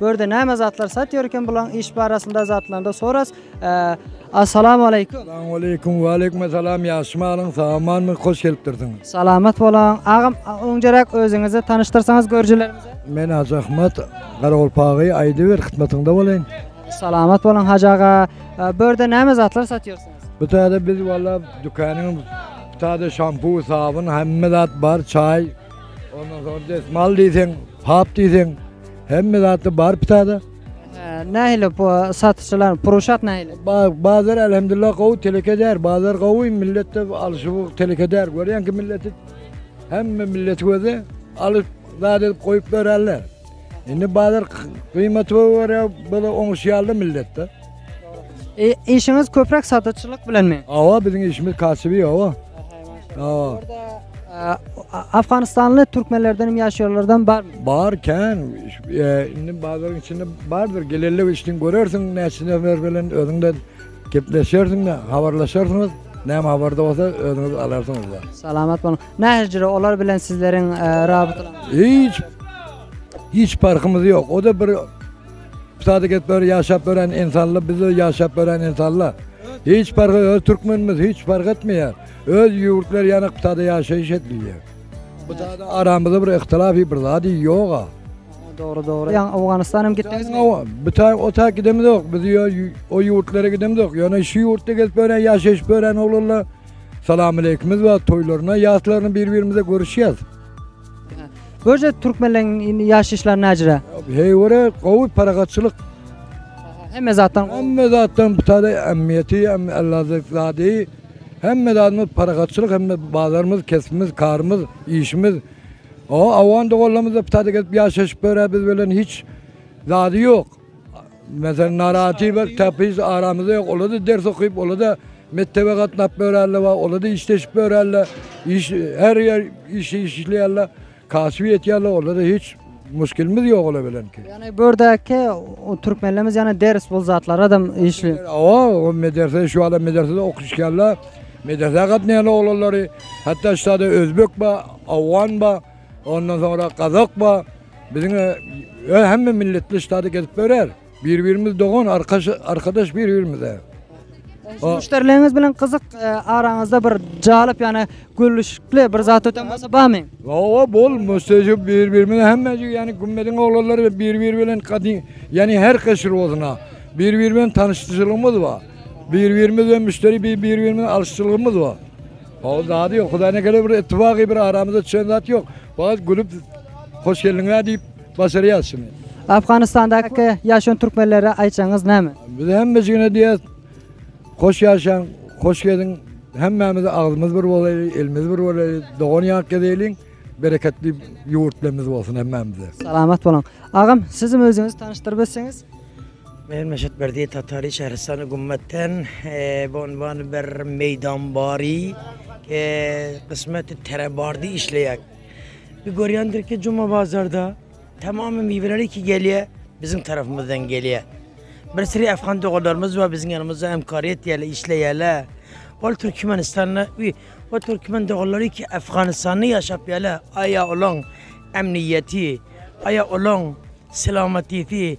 Bu ýerde näme zatlar sat ýörken bulaň iş barasynda zatlarynda soras. Assalamu aleýkum. Assalamu aleýkum. Wa aleýkum assalam. Ýagşy malyň samanmy? Hoş gelipdirsiň. Salamat bolaň. Agam öňjeräk özüňizi tanyşdyrsaňyz görjülerimize. Men Hajy Ahmet Garagolpagy aýdyber hytmatyňda bolaýyn. Salamat bolaň Hajy aga. Bu ýerde näme zatlar sat ýörsiňiz? Bu täze biz walla dükanyň täze şampu, sabyn, hemme zat bar, çaý. Ondan sonra des mal diysen, hap diysen, hemme zatda bar pitada. Nähili bu satyjylar, puruşat nähili? Ba- Bazar elhamdülillah gowy teleke der. Bazar gowy millet de alşy bu teleke der. Görýän ki milleti hemme milleti göze alyp zat edip goýup bererler. Indi bazar gymmaty görä bile oňuşýarly milletde. E, işiňiz köpräk sataçylyk bilenmi? Awa biziň işimiz kasyby awa. Awa. Orada Afganistanly türkmenlerden hem ýaşaýanlardan barmy? Bar kän. E, indi bazaryň içinde bardyr. Gelende işden görersiň, näçe nefer bilen özüňde gepleşersiň, habarlaşarsyňyz. Näme habarda bolsa özüňiz alarsyňyz. Salamat boluň. Nähijre olar bilen sizleriň rabitalaryňyz? Hiç hiç parhymyz ýok. O da bir sadaka et ber ýaşap beren insanlar bizde ýaşap beren insanlar. Hiç parhy öz türkmenimiz hiç parh etmeýär. Öz ýurtlar ýana ktada ýaşaýyş edilýär. Bu zada aramyzda bir ihtilafy bir zady ýoga. Dogry dogry. Ýa Owganystan hem gitdiňiz. Owa, bu ta o ta gidemiz ýok. Biz o ýurtlara gidemiz ýok. Ýöne şu ýurtda gezip beren ýaşaýyş beren oglanlar Salamaleýkimiz bar, toýlaryna, ýaslaryna bir-birimize görüşýäs. Görje türkmenleriň indi ýaşaýyşlary näjire? Heý görä, gowy parahatçylyk. Hemme zatdan Hemme zatdan bu tale ähmiýeti, hem ellazek zady. Hemme zadymyz parahatçylyk, hemme bazarymyz, kesbimiz, karymyz, işimiz. O, awan doganlarymyz da bu tale gelip ýaşaşyp ýörä biz bilen hiç zady ýok. Meselem, naratiwler täpiz aramyzda ýok. Olar-da ders okyp, olar-da mekdebe gatnap ýörärler we olar-da işleşip ýörärler. Iş, her ýer iş işleýärler, kasyp ýetýärler, olarda hiç muşkilimiz ýok olar bilen. Ýagny bu ýerdäki türkmenlerimiz ýagny ders bol zatlaradam işli. Hawa, o medrese şu wagtda medresede okuşýarlar. Medresä gatnaýan oglanlary, hatda şu wagtda özbek bar, awgan bar. Ondan soňra gazak ba biziň öe hemme milletli ştady gezip berer. Bir birimiz dogan arkaş arkadaş bir birimize. O- Müşderileriniz bilen gyzyk e, araňyzda bir jalyp ýany gülüşikli bir zat öten bolsa barmy? Owa bol müstejib bir birimize hemme yani gümmediň oglanlary ve bir bir bilen kadin yani her keşir olsuna. Bir bir bilen tanıştırılığımız var. Bir birimiz ve müşteri bir bir birimiz alıştırılığımız var. Hol zady yok. Hudaýyna gele bir ittibagy bir aramyza düşen zat yok. Fakat gülüp hoş geldiňler deyip başarýas şuny. Afganistandaky ýaşan türkmenlere aýtjagyňyz näme? Biz hemmejigine diýýäs. Hoş ýaşaň, hoş geliň. Hemmämiz agzymyz bir bolaýly, elimiz bir bolaýly, dogan ýak gezeliň. Bereketli ýurtlarymyz bolsun hemmämize. Salamat boluň. Agam, sizim özüňizi tanyşdyryp ötseňiz? Men Meşet Berdiýew Tatary Şähristany gümmetden bu unwany ber meýdan bary gysmeti tere bardy işleýäk. Bir görýändir ki Juma bazarda tamamy miweler iki gelýä biziň tarapymyzdan gelýä. Bir sürü Afgan doganlarymyz bar biziň ýanymyzda emkar etýäler işleýäler. Ol Türkmenistanda we o Türkmen doganlary ki Afganistanda ýaşap ýaler aýa olaň emniýeti aýa olaň selamatisi.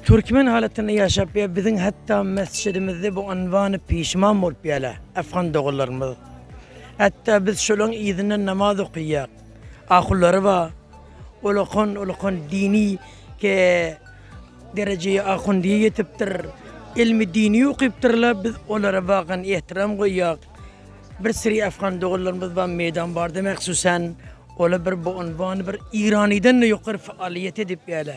Türkmen halatynda ýaşap ýa biziň hatda mesjidimizde bu ynwany pişman bolup ýala afgan doganlarymyz. Hatda biz şolaň yzyndan namaz okyýak. Ahullary ba ulakan ulakan dini ke derejeýe ahundyýe ýetipdir. Ilmi dini okypdyrla biz olara bagan ehtiram goýýak. Bir siri afgan doganlarymyz ba meýdan barda mahsusan ola bir bu ynwany bir ýyranydan-da ýokary faaliýet edip ýala.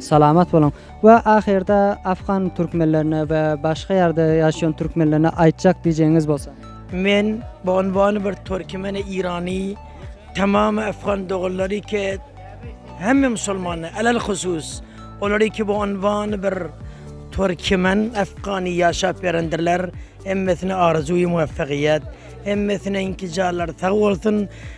Salamat boluň. We ahyrda afgan türkmenlerine we başga ýerde ýaşaýan türkmenlerine aýtjak diýjegiňiz bolsa. Men bu unwany bir türkmeni, irany, tamamy afgan doganlary ke hemme musulmana alel husus olary ke bu unwany bir türkmen, afgany ýaşap berendirler. Hemmesine arzuwy muwaffagyýet. Hemmesine intizarlary sag bolsun.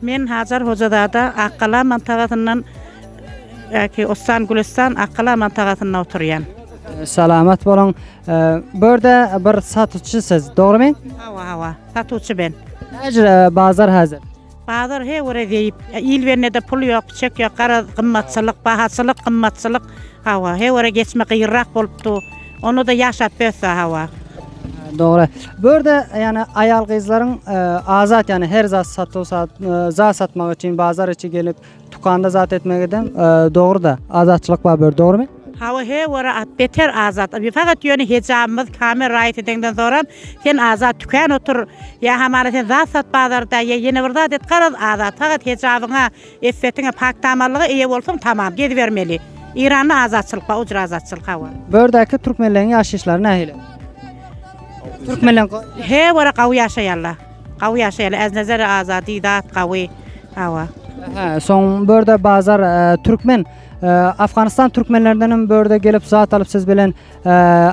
Men Hajar Hojazada Akgala mantagasyndan Äki Ostan Gülestan Akgala mantagasynda oturýan. Salamat boluň. Bu ýerde bir satyjy siz, dogrymy? Hawa, hawa. Satuwçy ben. Näjire bazar häzir? Bazar he göre zeýip. Il bende de pul ýok, çek ýok, garaz gymmatçylyk, bahaçylyk, gymmatçylyk. Hawa, he göre geçme gyrrak bolupdy. Onda-da ýaşap bessa hawa. Dogry. Bu ýerde ýani aýal-gyzlaryň azat ýani her zat satuw sat zat satmak üçin bazar içi gelip dukanda zat etmek edem dogry-da. Azatçylyk bar bu ýerde dogrymy? Hawa he ora at beter azat. Bi fakat ýöne hejabymyz kame raýat edeňden soram sen azat tükän otur. Ýa hamana sen zat sat bazarda ýa ýene bir zat et garaz azat fakat hejabyňa Eppetiňe pakdamarlyga eýe bolsaň tamam, gezibermeli. Eýranda azatçylyk bar, ujyr azatçylyk hawa. Bu ýerdäki türkmenleriň ýaşaýyşlary nähili? Türkmenler go. Her wara gawy ýaşaýarlar. Gawy ýaşaýarlar. Äznezere azady, zat gawy. Hawa. Ähä, soň bu ýerde bazar türkmen, Afganistan türkmenlerindenem bu ýerde gelip zat alyp siz bilen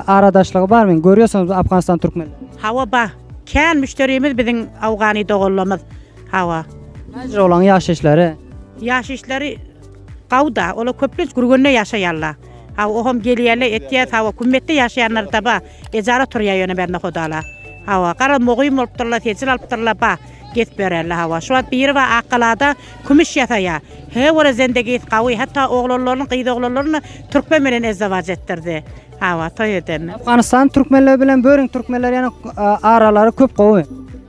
aradaşlygy barmy? Görýärsiňizmi Afganistan türkmenleri? Hawa bar. Kän müşderimiz biziň awgany doganlarymyz. Hawa. Näce olaň ýaşaýyşlary? Ýaşaýyşlary gowda. Olar köplenç gürgende ýaşaýarlar. Hawa, oham gelýärler, etýär. Hawa, kümmetde ýaşaýanlar da bar. Ejara turýar ýöne bende hudala. Hawa, gara mugim bolupdyrlar, tejil alypdyrlar, bar. Gezip ýörerler, hawa. Şu wagt biri bar Akgalada kümüş ýasaýar. He, ola zendegisi gawy. Hatda oglanlaryny, gyz oglanlaryny türkmen bilen ezzewaç etdirdi. Hawa toý edende. Afganistan türkmenleri bilen böriň türkmenleri ýana aralary köp gowy.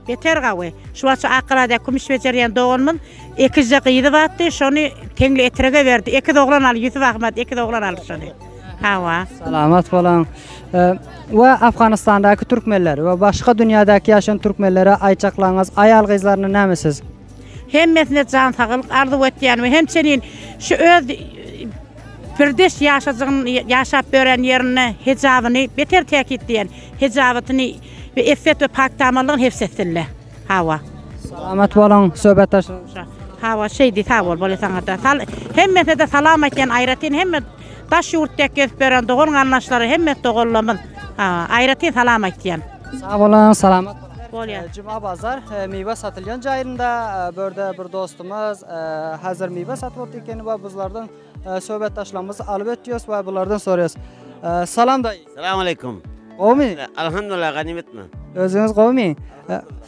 Beter gawy. Şu wagt şu Akgalada kümüş bejerýän doganymyz ekizje gyzy batdy, şony teňli etrege berdi. Ekiz oglan al Ýusup Ahmet ekiz oglan aldy şony. Hawa. Salamat boluň. We Afganistandaky türkmenler we başga dünýädäki ýaşan türkmenlere aýtjaklaryňyz, aýal-gyzlaryna näme siz? Hemmesine jan saglyk arzuw etýän we hemçenin şu öz pirdeş ýaşajygyn ýaşap ören ýerinde hejabyny beter täkitleýän hejabatyny we effet we pakdamarlygyny hefs etsinle. Hawa. Salamat boluň söhbetdaşymyz. Hawa şeýdi sag bol bole saňada. Sal hemmesine-de salam aýtýan aýratyn hemme daş ýurtdaky gezip ýören dogan-garyndaşlara hemme doganlarymyz aýratyn salam aýtýan. Sag boluň, salamat boluň. Bolýar. Eee, Juma bazar, eee, miwe satylýan jaýynda, eee, bu ýerde bir dostumyz, eee, häzir miwe satyp otyr ekeni we buzlardan, eee, söhbetdaşlarymyzy alyp ötýäs we bulardan soraýas. Eee, salam daýy. Salam aleýkum. Gowumy? Alhamdulillah ganymetmi? Özüňiz gowumy? Eee,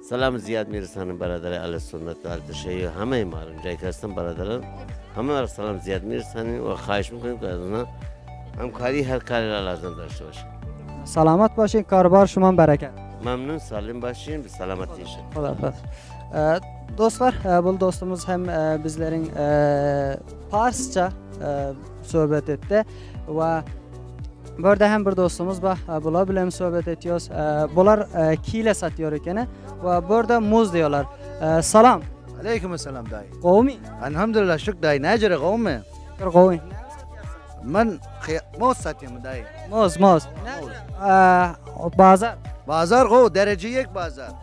Salam Zyýat Mirzanym Baradary Aly Sunnet Gardy Şeýh Hamaý Malum Jaýkasdan Baradalar Hamaýlar Salam Zyýat Mirzanym we Haýyşym Köň Gardyna Hamkary Her Kary Ralardan Daşy Başy. Salamat başyň kary bar şuman bereket. Mamnun salym başyň biz salamat ýaşa. Hoda hoda. Dostlar, bul dostumyz hem bizleriň parsça Söhbet etdi we bu ýerde hem bir dostumuz bar. Bular bilen söhbet etýäs. Bular kile satýar ekeni we bu ýerde muz diýýärler. Salam. Aleýkum salam daýy. Gowumy? Alhamdulillah şük daýy. Näjere gowumy? Şükür gowy. Men moz satýarmy daýy? Moz, moz. Näjere? Bazar. Bazar gowy, derejeyek bazar.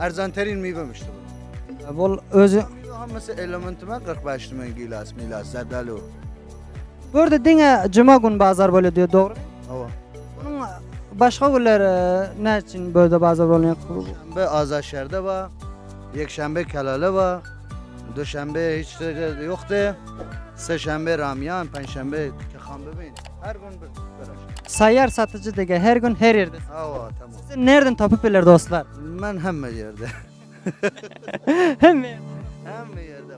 Arzan terin miwe müşdi bul. Bul özü Hammasy elementi men 45 men gilas milas zadali o. Bu ýerde diňe juma gün bazar bolýar diýýär, dogrumy? Hawa. Munuň başga günler näme üçin bu ýerde bazar bolmaýar? Bu Azat şäherde bar. Ýekşenbe Kelala bar. Duşenbe hiç ýerde ýokdy. Seşenbe Ramýan, penşenbe Kehanbebe. Her gün bir. Saýýar satyjy dege her gün her ýerde. Hawa, tamam. Sen nerden tapyp biler dostlar? Men hemme ýerde. Hemme. Hemme ýerde.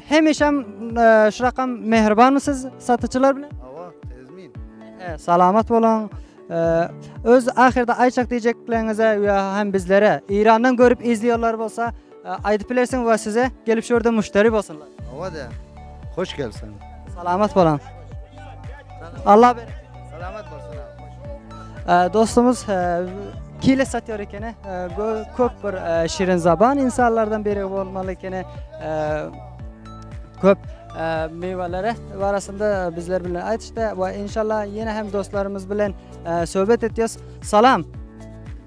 Hemişem e, şu rakam mehribanmy siz satyçylar bilen? Awa, tezmin. E, salamat boluň. E, öz ahirde aýçak diýjeklerinize we hem bizlere Irandan görüp izleýärler bolsa Aýdyp bilersiň we size gelip şu ýerde müşderi bolsunlar. Owa de. Hoş gelsin. Salamat boluň. Allah berek. Salamat bolsun abi. Dostumuz kile satýar ekeni. Köp bir şirin zaban insanlardan biri bolmaly ekeni. Köp meýwelere barasynda bizler bilen aýdyşdy we inşallah ýene hem dostlarymyz bilen söhbet etýäs. Salam.